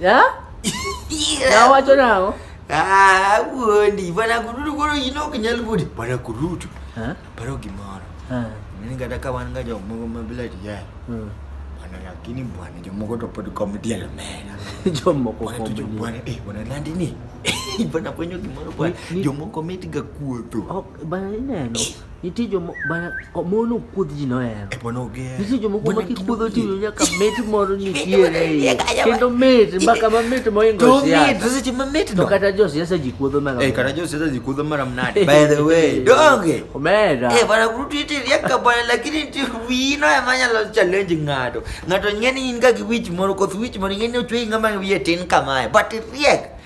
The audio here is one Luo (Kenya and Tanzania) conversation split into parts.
Yeah? Na wacho nao. Ah, wuondi, bana kurudu koro ino kinyal budi. Bana kurudu. Ha? Paro gimoro. Ha. Mimi kata ka wan ga jomoko mabila tiya. Hmm. Bana lakini bwana jomoko to pod komedi alamera. Jomoko komedi. Bwana eh bwana landi ni. Bana ponyo gimoro bwana. Jomoko metiga kuoto. Oh, bana ineno. Nitie joma mon ok kuodh ji nohero. Nitie joma kuoma kikuodho to iwinjo ka mit moro nitiere e iye. Kendo mit mbaka mamit mohingo siasa. To kata josiasa ji kuodho mara. Eh kata josiasa ji kuodho mara mnade. By the way, donge. Omera. Eh bana kurutu ite riaka bana lakini ti wino ema nyalo challenge ng'ato. Ng'ato ng'eni in ga gi wich moro koth wich moro ng'eni ochwe ng'ama wiye tin kamae. But riek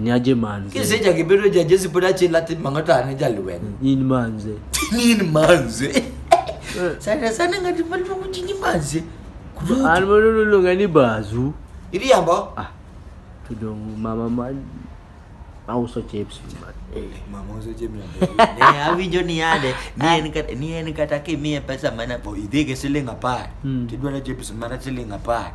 ni aje manze kiseja kibedo ja jesi pod achiel latin mang'o to an jalweny in manze in manze eh. sana sana ng'ati maluongo ji ni manze an mono noluonga ni bazu iriambo ah, to dong mama ma auso chips eh, mama uso chips ne awinjo ni ade ni en kata ni en kata kimiye pesa mana idhi gi siling apar hmm. tidwaro chips mana siling apar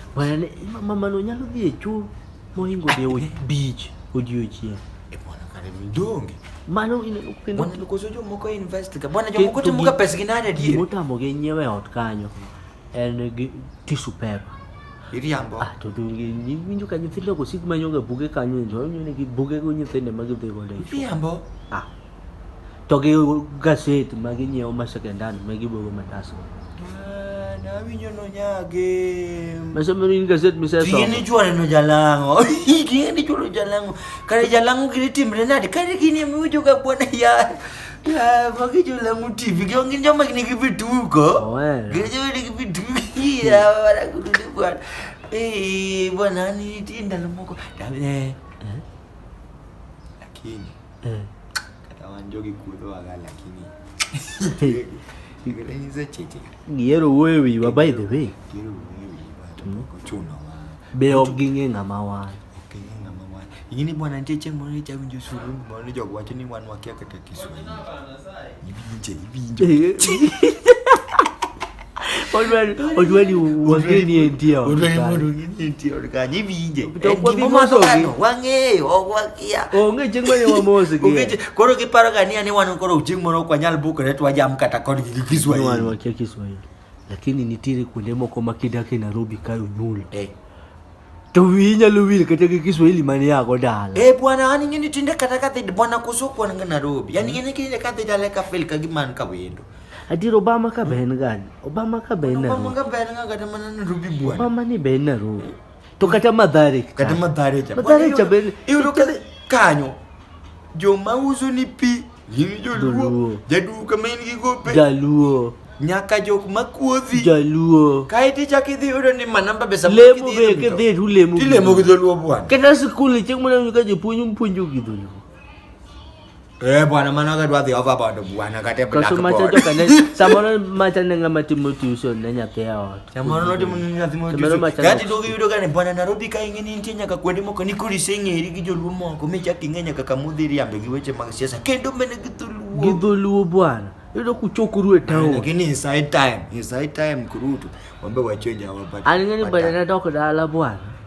Wane, mamano nyalo dhi e choo mohingo dhi e beach odiochieng'. E bwana kare mdonge. Mano ineno kendo bwana nikoso jomoko invest ga. Bwana jomoko timo ga pesa gi nani adier? Motamo gi nyiewe ot kanyo. En gi tissue paper. Iriambo. Ah, to donge winjo ka nyithindo go sik manyo ga buge kanyo, to nyone gi buge go nyithindo ma gidhi go. Iriambo. Ah. to gi gaset ma ginyiewo ma second hand ma gibogo matasgo awinjo nonyage masomero in gaset misesomo gini chwore no jalang'o gini chwore jalang'o kare jalang'o gini timre nade kare gini emiwinjo ga bwana ya magi jolang'o tv gin joma nigi vituko gin joma nigi vituko ya wanakudu ni bwana eh bwana ni tinda lomoko lakini Mm. kata wan jogi kuodhowaga lakini igirenyise cheche Gihero wuoyo e wiwa by the way. giro wuoyo wiwa to Mm. pok ochunowa Be ok ging'e ng'ama wan. ok ing'e ng'ama wan ing'e ni bwana nitie chieng' moro nichawinjo suru moro ni jogo wacho ni wan wakia kata kiswahili olweli wangeni endio onge chieng' mane wamosi koro kiparo kania ni wan koro chieng' moro ok wanyal bukore twajam kata kodgi gi kiswahili Lakini nitiere kuonde moko ma kidak e Nairobi ka onyuol. Eh. To wiyi inyalo wil kata gi Kiswahili mane yago dala. Eh bwana, an ing'eni tinde kata ka dhid bwana koso kwan ga Nairobi. An ing'eni kinde ka dhid ale ka fel ka gima an ka wendo. Adier Obama ka be en gani? Obama ka be en Obama Nairobi. ka ber nga kata mana Nairobi bwana. Obama ni be en Nairobi. To kata Mathare. ka. Kata madhare cha. Mathare cha be- Iyudo ka kanyo joma uso ni pi Gin joluo. Joluo. Jaduo kama in gi gope. Jaluo. Nyaka jok makuodhi. Jaluo. Kae to ichako idhi yudo ni manamba be sama Lemo kidhi be idho kidhi to ulemo. gi Tilemo gi dholuo bwana. Kata sikul ni chieng' moro ka jopuonj mpuonjo gi dholuo. Eh bwana mano ka dwa dhi overboard bwana kata e Kaso macha blackboard. joka ne samoro macha ne ng'ama timo tuition ne nyathi e ot. Chamarunoti munyathimo Gati dogi yudo gane bwana Nairobi ka ing'e ni nitie nyaka kuonde moko ni kurisi ing'eri gi joluo moko mi chak ing'e nyaka kama udhi riambe gi weche mag siasa kendo mene gi dholuo. Gi dholuo bwana. Yudo kuchokuru e town. Lakini inside time, inside time kurutu. Wambe wachoja wapate. Aling'e ni bwana nadok dala bwana.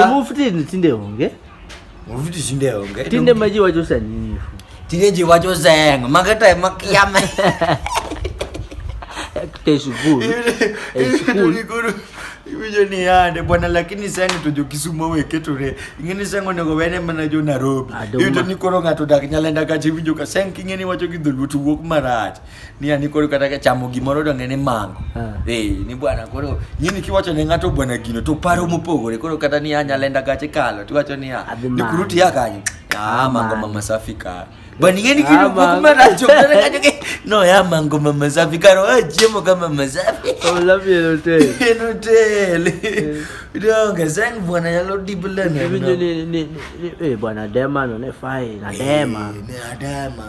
tomufutini tindehonge mufuti zindehonge tinde maji wacho sanifu tine nje wacho zengo makata makiyama teshukuru eshukuru iwijo ni yande bwana lakini sani tojo kisumo weketore ing'eni sengo nego wene mana jo narobi Adoma. iwijo ni koro ng'ato dak nyalenda kacha iwinjo ka seng king'eni wacho gi dholuo to wuok marach ni ani koro kata ka chamo gimoro donge ni mango ah. eh ni bwana koro yini kiwacho ne ngato bwana gino to paro mopogore koro kata ni anya lenda gache kalo tiwacho ni ah, ni kuruti ya kanyo ah mango mama safi ka bwana ngeni ah, kino kwa kuma racho kana kanyo ke no ya mango mama safi ka ro jemo kama mama safi oh love you hotel in hotel donge zang bwana ya lo dibulana ni ni ni eh bwana dema no ne fai na dema eh, na dema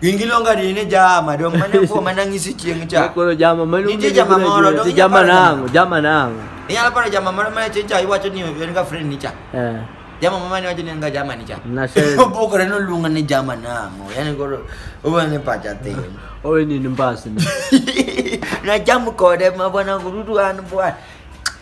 Gin giluonga ni ni jama dong mane kuom mane ng'isi chieng' cha. Koro jama mane Nitie jama moro dong jama nango, jama nango. Inyalo paro jama moro mane chieng' cha iwacho ni en ga friend ni cha. Eh. Jama mama ni wacho ni en ga jama ni cha. Na se. Obokore no luonga ni jama nango. Yani koro owe ni pacha tin. Owe ni ni mbasi. Na jam kode ma bwana gurudu an bwana.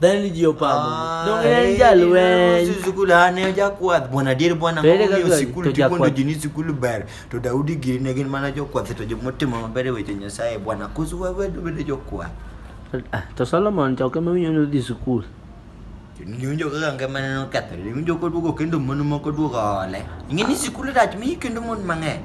Dhani ni jiyo pamo. Ah, Donge en eh, jalweny. Yesu sikul hane ojakwath. Bwana dier bwana To ere ng'oyo kaka sikul to tikondo jakwath? ji ni sikul ber. To Daudi giri ne gin mana jokwath to joma otimo maber e weche Nyasaye. Bwana kusu wawedu bedo jokwath. Ah, To Solomon to ok ema winyo ni odhi sikul. Niwinjo kaka ngimane nokethore. Niwinjo koduogo kendo mon moko duogo ole. Ing'e ni sikul rach mi kendo mon mang'eny.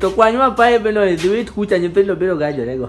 to kwanyo apaye beno idhi wit kucha nyithindo biro gajorego